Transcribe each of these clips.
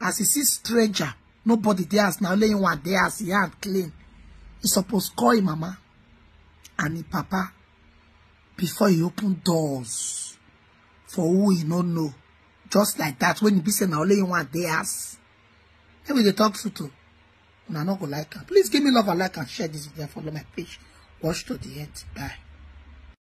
As he see stranger, nobody dey house now. only him one dey house, he hand clean. He suppose call him mama and him papa before he open doors for who he no know. Just like that, when he be saying now, only him one dey house. Maybe they talk to too. And I not go like her. Please give me love and like and share this video. Follow my page. Watch to the end. Bye.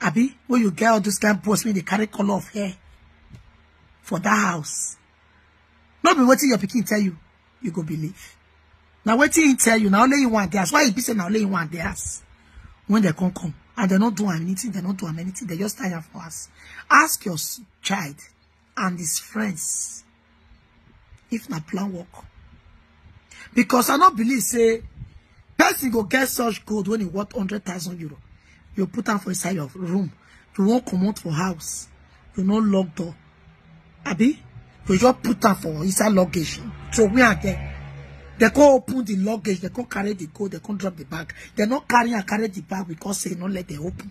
abi when you get all those kind posts wey dey carry color of hair for that house no be wetin your pikin tell you you go believe Now wetin he tell you Now only you want dey house why he be say na only you want dey house when they come come and they not do anything they not do anything they just tire for us ask your child and his friends if na plan work because i no believe say person go get such gold when e worth hundred thousand euro you put am for inside your room you wan comot for house you no lock door abi you just put am for inside luggage So we are there. They go open the luggage, they go carry the gold, they go drop the bag. They not carry and carry the bag because they not let them open.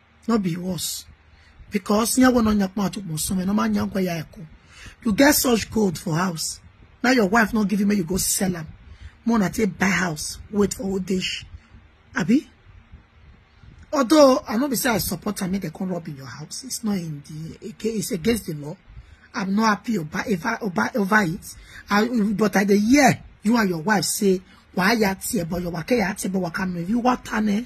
no be worse because nya go no nya pa to mo so me no ma nya kwa ya eko you get such gold for house now your wife not giving me you go sell am more na take buy house wait for old age abi although i no be say i support am make dem come rob in your house it's not in the okay it's against the law i'm not happy over over over, over it I, but at the year you and your wife say why ya tie but your waka ya tie but waka me you what tane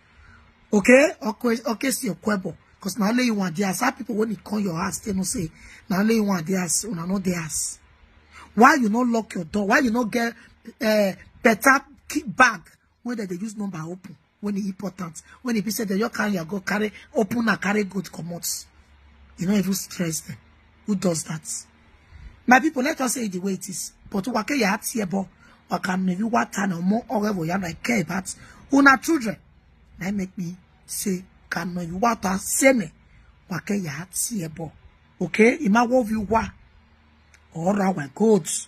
okay okay okay see your kwebo because now only you want the ass people when it call your ass they no say now only you want the ass una no the ass why you not lock your door why you not get uh, better key bag when they, they use number open when e important when e be say dem just carry your go carry open and carry good comot you no even stress them. who does that my people let us say it the way it is but wake ya hat here bo waka maybe what and more or whatever ya like care about una children na make me say can you what are say me wake ya hat here bo okay ima wo view wa or our goats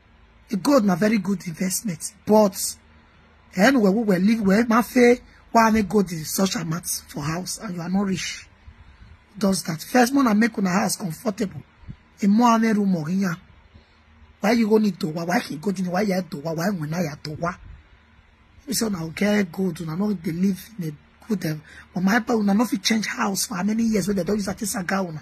God na very good investment but ẹnu wẹ̀ wúwẹ̀ lí wẹ̀ máa fẹ́ wá ní God in such amount for house and you are not rich does that first man na make una house comfortable emo ame room or yan why you go need to wa why he go to why you to wa why when I to wa we say una okay good una no dey live in a good um, but my papa una no fit change house for how many years wey dem don use ati saga una